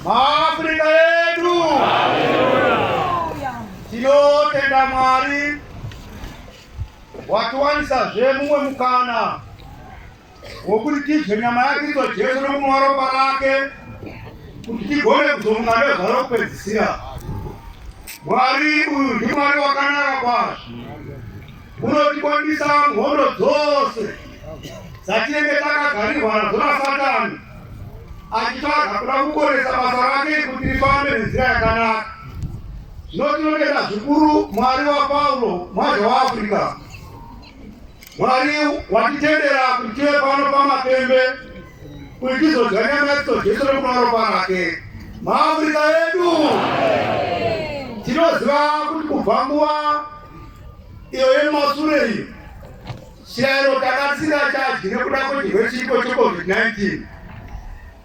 Maafrika yedu tinotenda Mwari watiwanisazve mumwe mukana wokuti tidye nyama yaKristu Jesu nokunwa ropa rake kuti tigone kuzonga nezvaro kupedzisira. Mwari uyu ndiMwari wakanaka kwazvo. Unotikwanisa mhondo dzose dzatinenge takagarirwa nadzo nasatani achitsvaga kuda kukonesa basa rake kuti rifambe nenzira yakanaka. Zvino tinotenda zvikuru Mwari waPaulo mwaja waAfrica, Mwari watitendera kuti tive pano pamapembe kuti tizodya nyama yacho Jesu nekunwa ropa rake. MaAfrica edu tinoziva kuti kubva nguva iyo yemasure iyo chero takasira chadyi nekuda kwechirwe chipo checovid-19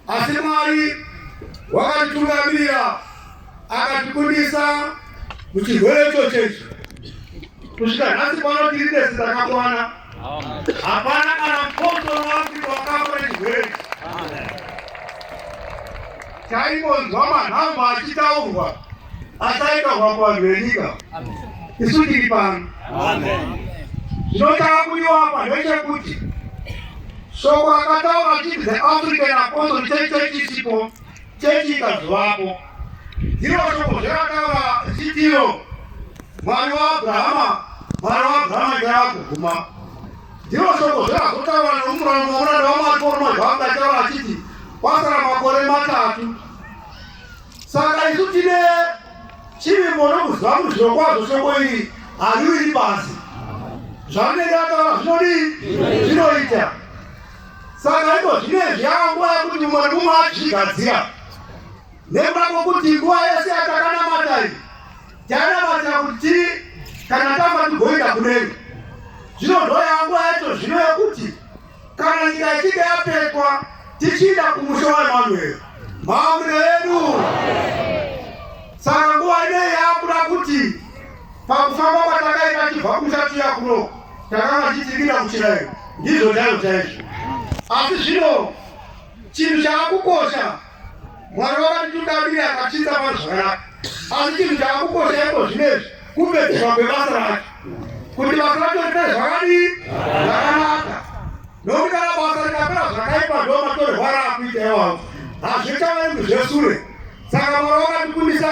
asi mwari wakatitungamirira akatikundisa muchirwere ichochecho kusvika nhasi pano tiri tese takakwana Hapana kana mposo wake wakapa chigwere. Taingonzwa manhamba achitaurwa asaita hwako vanhu venyika. Isu tiri pano. Zvinotaa kudiwa apa ndechekuti shoko rakataura chiti the African Apostle Church chisipo chechi ikazovapo Ndiro shoko zvakataura chitiyo Mwari waAbrahama, Mwari waAbrahama ndiye akuguma. Ndiro shoko zvakazotaura nomuranda wamuranda waMwari Koroma zvaanga achitaura achiti kwasara makore matatu. Saka isu tine chivimbo nokuziva kuti zvirokwazvo shoko iri hariwiri pasi. Zvarinenge ataura zvinodii? Zvinoita. Saka iko zvinezvi yava nguva yekuti mumwe nemumwe azvigadzira nekuda kwekuti nguva yese yatakanamata iyi tanamatira kuti kana tafa tigoenda kudenga. Zvino ndoyava nguva yacho zvino yekuti kana nyika ichinge yapetwa tichienda kumusha waEmanueri maambuiro edu. Saka nguva inei yakuda kuti Pakufamba kwatakaita tibva kumusha tiya kuno takanga tichipinda kuchirairo ndizvo chaizvo chaizvo, asi zvino chinhu chaakukosha Mwari vakatitudavira akatiisa pano zvakanaka, asi chinhu chaakukosha iko zvinezvi kupedzeswa kwebasa rake, kuti basa racho riite zvakadii zvakanaka, nokuti kana basa rikapera zvakaipa ndo matorerwara akuita iwawo hazvichavendi zvesure, saka Mwari vakatikumbisa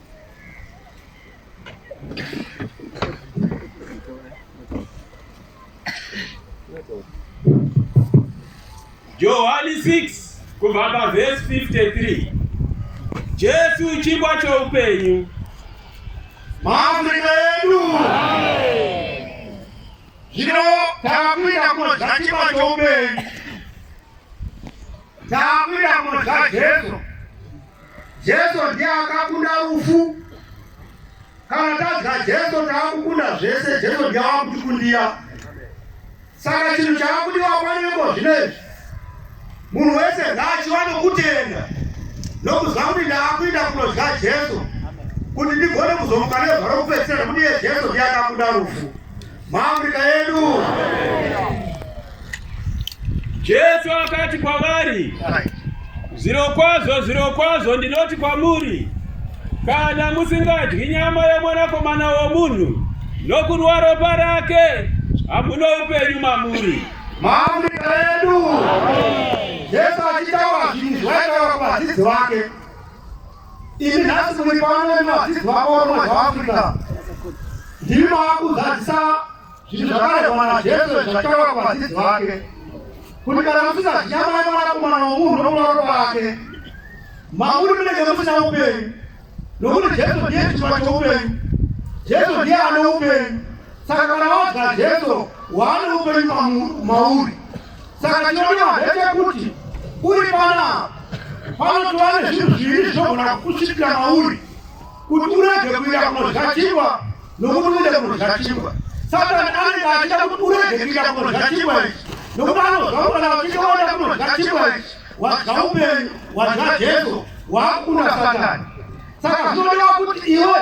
Johani 6 kubva pavhesi 53 Jesu chingwa choupenyu maafrika yedu zvino takuita kunodya chingwa choupenyu takuita kunodya Jesu Jesu ndiye akakunda rufu. Kana tadya Jesu taakukunda zvese, Jesu ndiye akutikundira. Saka chinhu chaakudiwa panengo zvinezvi, munhu wese ngaachiwane kutenda nokuziva kuti ndaakuinda kunodya Jesu kuti ndigone kuzomuka nezuva rokupedzisira nekuti iye Jesu ndiye akakunda rufu. maAfrica yedu. Jesu akati kwavari, zvirokwazvo zvirokwazvo ndinoti kwamuri, kana musingadyi nyama yomwanakomana womunhu nokunwa ropa rake, hamuna upenyu mamuri. Maamrika yedu Jesu achitaura zvinhu zvaitaura kuvadzidzi vake Imi nhasi muri pano nemadzidzi vakoromwe zvaafrica ndimi maakuzadzisa zvinhu zvakaregwa najesu zvataura kuvadzidzi vake kuti kana musisazvinyamai mwanakomana womunhu nokuvaroto vake mamuri munenge musina upenyu nokuti jesu ndiye chituva choupenyu jesu ndiye ane upenyu saka kana wadya jesu waane upenyu mauri Saka chinodiwa ndechekuti uri panapa panotova nezvinhu zviviri zvinogona kukusvikira mauri kuti urege kuita kunodya chingwa nokuti uite kunodya chingwa. Satani anenge achida kuti urege kuita kunodya chingwa ichi nokuti anozwa kuti kana uchinge waita kunodya chingwa ichi wadya upenyu, wadya Jesu, waakunda Satani. Saka zvinodiwa kuti iwe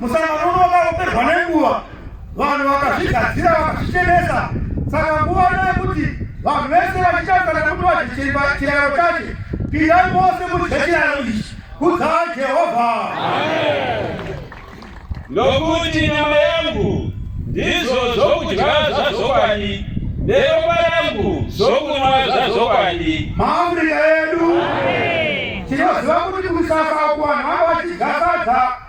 Musangano uno wakapedzwa nenguva, vanhu vakazvigadzira vakazvichenesa. Saka nguva ino yekuti vanhu vese vachitadzana kuti vazvichemba chiraro chache, pindai vose mudye chiraro ichi. Kudzai Jehovha. Nokuti nyama yangu ndizvo zvokudya zvazokwadi, neropa rangu zvokunwa zvazokwadi. Maafrika edu tinoziva kuti kusasa uku vanhu vanga vachidya sadza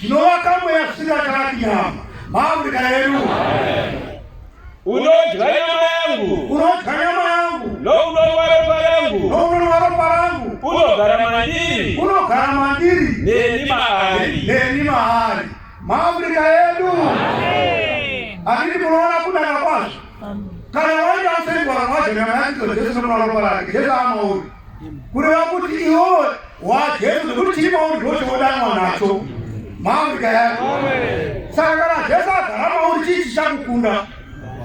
Tinovaka mweya kusvika kana nyama. Maamrika yedu. Unodya nyama yangu. Unodya nyama yangu. Nounonwa ropa rangu. Nounonwa ropa rangu. Unogara mandiri. Unogara mandiri. Neni maari. Neni maari. Maamrika yedu. Amen. Akiti munoona kudaka kwazvo. kana waenda usengwa waje nyama yake Jesu ndo roho lake Jesu ama uri kuri wakuti iwo wa Jesu kuti chimo uri ndo chodanwa nacho mawi kaya saka kana Jesu agarama uri chichi chakukunda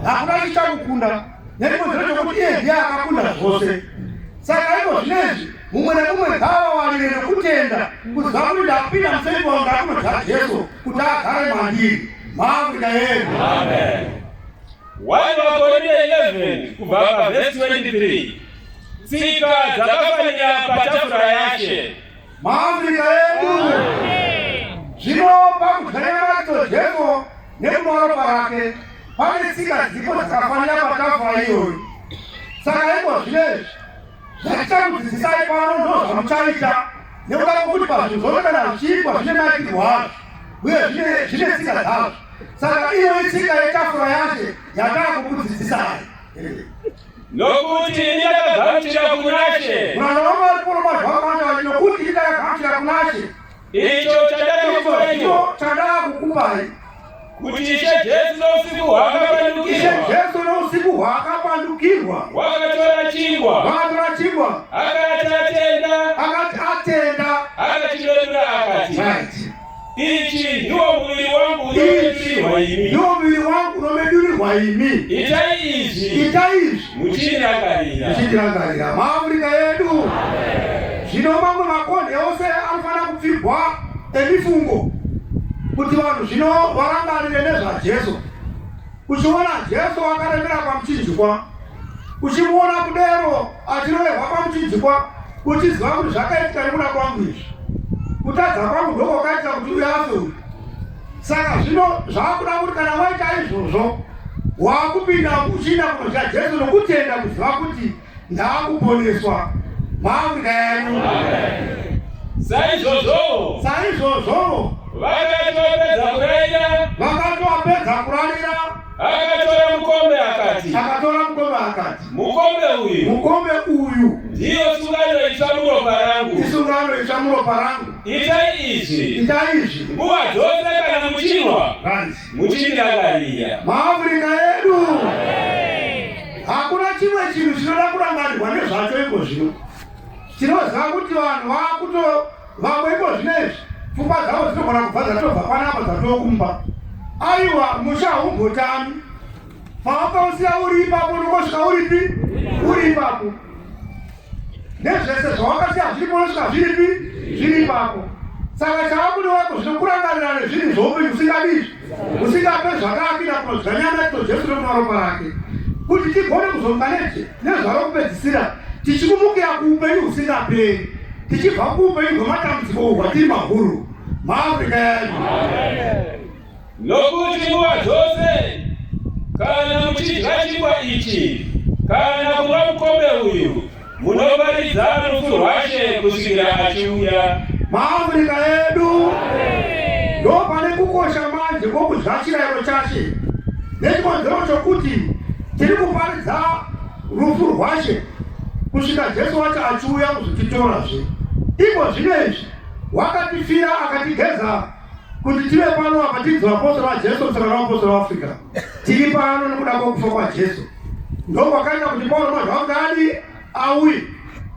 hakuna chichakukunda nekuti ndo chokuti iye ndiye akakunda zvose saka iko zvinezvi mumwe nekumwe gava walire nekutenda kuziva kuti ndakupinda musengwa ndakunodza Jesu kuti agare mandiri maafrika yedu amen 1 Vakorinto 11 kubva pavhesi 23 tsika dzakafanira patafura yashe maafrika yedu zvino pakudzanyamadzo jesu nekumaropa rake pane tsika dzipo dzakafanira patafura iyoyo saka iko zvinezvi Zvatichakudzidzisai pano ndozvamuchaita nekuda kwekuti pazvinhu zvose kana zvichiitwa zvine maitiro azvo uye zvine tsika dzazvo. Saka iyo itsika yetafura yacho yatakukudzidzisai nokuti ndakagamuchira kunashe mwana wangu ari kuruma zvamanda nokuti ndakagamuchira kunashe Icho chandakakupai icho chandakakupai kuti Ishe Jesu nousiku hwaakapandukirwa. Ishe Jesu nousiku hwaakapandukirwa. Wakatora chingwa. Wakatora chingwa. Akati atenda. Akati atenda. Akachidodora akati. Right. Ichi ndiwo muviri wangu unomedurirwa imi. Ndiwo muviri wangu unomedurirwa imi. Itai izvi. Itai izvi. muchirangarira muchirangarira maafurika yedu zvino mamwe makonde ose anofanira kupfigwa emifungo kuti vanhu zvino varangarire nezvajesu uchiona jesu akaremera pamuchinjikwa uchimuona kudero achiroverwa pamuchinjikwa uchiziva kuti zvakaitika nekuda kwangu izvi kutadza kwangu ndoko kaita kuti uyafe uyu Saka zvino zvakuda kuti kana waita izvozvo wakupinda kuchina kunodya Jesu nokutenda kuziva kuti ndaakuponeswa maafrika yenyu saizvozvo saizvozvo vakati vapedza kurayira vakati vapedza kurayira Akatora mukombe akati. Akatora mukombe akati. Mukombe uyu. Mukombe uyu. Ndiyo sungano itsva muropa rangu. Isungano itsva muropa rangu. Itai izvi. Itai izvi. Nguva dzose kana muchinwa. Hanzi. Muchindangarira. MaAfrica edu. Hakuna chimwe chinhu chinoda kurangarirwa nezvacho iko zvino. Tinoziva kuti vanhu vakuto vamwe iko zvino izvi pfungwa dzavo dzinogona kubva dzatobva kwanapa dzatokumba. Aiwa musha haumbotami paakausiya uri ipapo unongosvika uripi uri ipapo nezvese zvawakasiya zviripo unosvika zviripi zviri ipapo saka chaakuda wako zvinokurangarira nezvinhu zvoupenyu usingadizvi musingape zvakaakira kunodzanyana ito jesu nokuda ropa rake kuti tigone kuzonga neje nezvaro kupedzisira tichikumukira kuupenyu husingaperi tichibva kuupenyu hwematambudziko hwatiri mahuru maafrica yedu nokuti nguva dzose kana muchidya chingwa ichi kana kumwa mukombe uyu Munoparidza rufu rwaShe kusvikira achiuya. MaAfrica edu ndopane kukosha manje kwokudya chirayiro chaShe nechikonzero chokuti tiri kuparidza rufu rwaShe kusvika Jesu wacho achiuya kuzotitorazve. Iko zvino izvi wakatifira akatigeza kuti tive pano apa tiri vapostora vajesu musangano wavapostora waafrica tiri pano nokuda kwokufa kwajesu ndokwakaita kuti pauro mwanhu wakudadi auye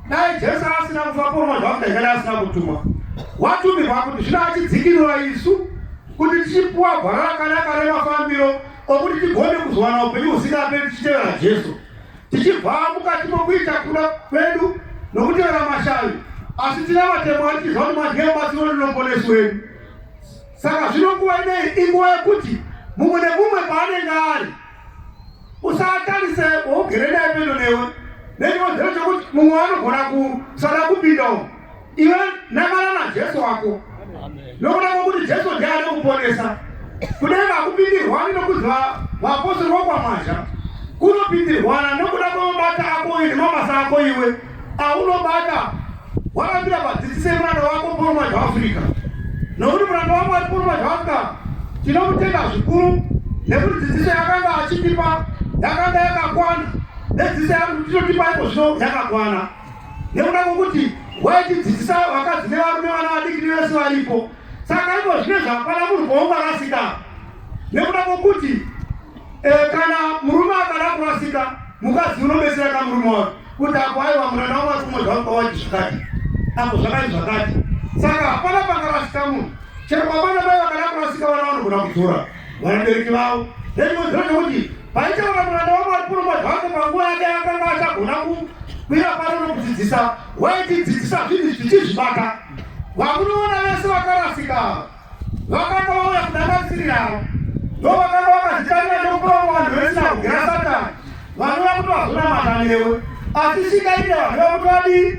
dai jesu asina kufa pauro mwanhu wakudaikadi asina kutumwa watumirwa kuti zvino achidzikinura isu kuti tichipuwa gwara rakanaka remafambiro okuti tigone kuzowana upenyu husingaperi tichitevera jesu tichibva mukati mokuita kuda kwedu nokutevera mashavi asi tina matemo ati tizva kuti madye batsiro rinoponesi wedu saka zvino nguva inei inguva yekuti mumwe nemumwe paanenge ari usatarise wougere naye pedo newe nechikonzero chekuti mumwe anogona kusada kupinda umu Iwe nangana naJesu wako nokuda kwokuti Jesu ndiye ari kuponesa. Kudai vakupindirwani nokuziva vapostori vokwamazha kunopindirwana nokuda kwemabata ako uye nemabasa ako iwe aunobata wakapira padzisise muranda wako pauri mazha waafurika nokuti muranda wako ari pauri mazha waafurika tinomutenda zvikuru nekuti dzidziso yakanga achitipa yakanga yakakwana nedzidziso yatinotipa iko zvino yakakwana nekuda kwokuti waitidzidzisa vakadzi nevarume vana vadiki nevese varipo saka iko zvine zvakwana munhu kwaunga rasika nekuda kwokuti eh, kana murume akada kurasika mukadzi unobetsera ka murume wake kuti apo aiwa muranda wangu akumwe zvangu kwawaiti zvakati apo zvakati zvakati saka hapana pangarasika munhu chero kwavana vai vakada kurasika vana vanogona kudzora vabereki vavo nezvimwe zvekuti paichaona mwana wavo ari kuromba zvake panguva yake akanga achagona kukwira pano nokudzidzisa waitidzidzisa zvinhu zvichizvibata vamunoona vese vakarasika ava vakanga vauya kudanganisirira ava ndo vakanga vakazitanira nekukuromba vanhu vesina kugera satani vanova kuti vazonamata newe asi shingaita vanhu vakuti vadii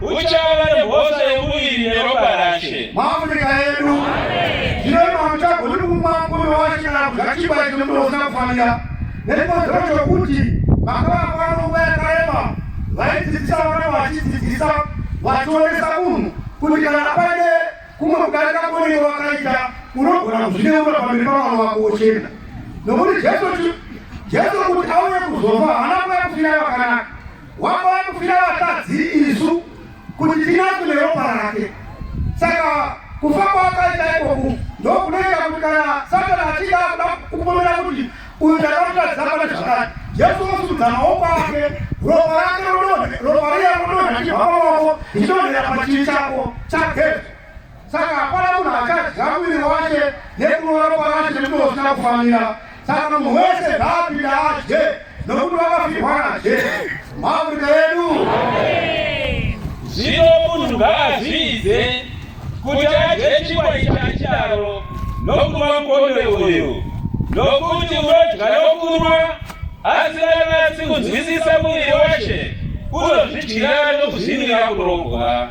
uchava nemhosva yemuviri neropa rashe muafrica yedu zvino ino hamuchagoni kumwa mukombe wacho kana kudya chingwa chine muno usina kufanira nechikonzero chokuti makavakwa nonguva yakareba vaidzidzisa vana vachidzidzisa vachionesa munhu kuti kana pane kumwe kudarika kone wakaita unogona kuzvineura pamberi pavana vako wochena nokuti jesu jesu kuti auye kuzova hana kuya kufira vakanaka Wanga wakufira vakadzi isu kuti tinakune ropa rake. Saka kufa kwakaita ikoku ndokunoita kuti kana Satana achida kuda kupomera kuti uyu ndakamuratidza pane zvakati, Jesu osudza maoko ake, ropa rake rodonha, ropa riya rodonha chibva pamaoko, richidonhera pachivi chako chaGesu. saka hapana munhu achadya muviri wake nekurova ropa rake nemuno usina kufanira saka munhu wese ngaapinde adye nokuti vakafirwa nadye maafrika yedu zvino munhu ngaazviidze kuti adye chikwai chachidaro nokunwa mukombe uyu nokuti unodya nokunwa asikanasi kunzwisisa muviri washe unozvidyira nokuzvinira kurogwa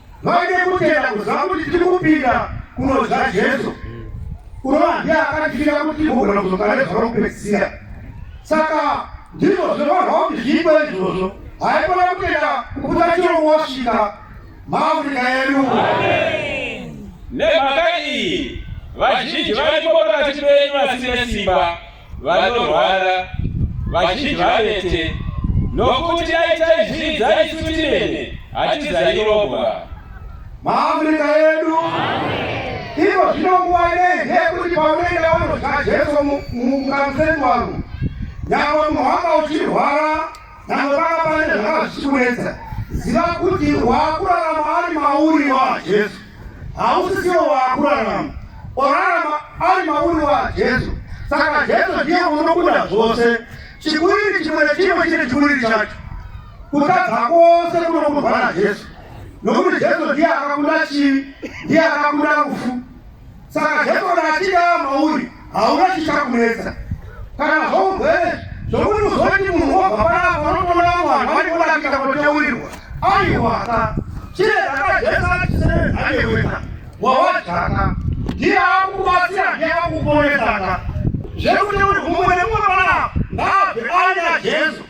vaine kutenda kuziva kuti tiri kupinda kunodya jesu kurova ndiye akatifira kuti tigogona kuzogara nezuva rokupedzisira saka ndizvo zvinovarwa kuti zviitwe izvozvo haikona kutenda kuputa chiro wasvika maafrika yedu nemhaka iyi vazhinji vari kupota vachiri venyu vasine simba vanorwara vazhinji vanete nokuti dai taizvidza isu timene hatizairobwa maafrika edu ivo zvino nguva inei ndeyekuti paunoenda unodya jesu mukamuseni wangu nyangwe munhu wanga uchirwara Nyangwe panga pane zvakanga zvichikunetsa, ziva kuti waakurarama ari mauri waJesu, hausisiwo waakurarama. Orarama ari mauri waJesu, saka Jesu ndiye unokuda zvose. Chikuriri chimwe nechimwe chine chikuriri chacho. Kutadza kwose kunokundwa naJesu, nokuti Jesu ndiye akakunda chivi, ndiye akakunda rufu. Saka Jefona achida mauri hauna chichakunetsa kana zvourwere zvokuti uzoti munhu wobva panapa unotoona vamwe vanhu vari kurakita kuteurirwa aiwaka chire dzakajesa chiseeaeweka wawajaka ndiye akukubatsira ndiye akukuponesaka zvekuti uri umwe nemumwe panapa ngaabve aina jesu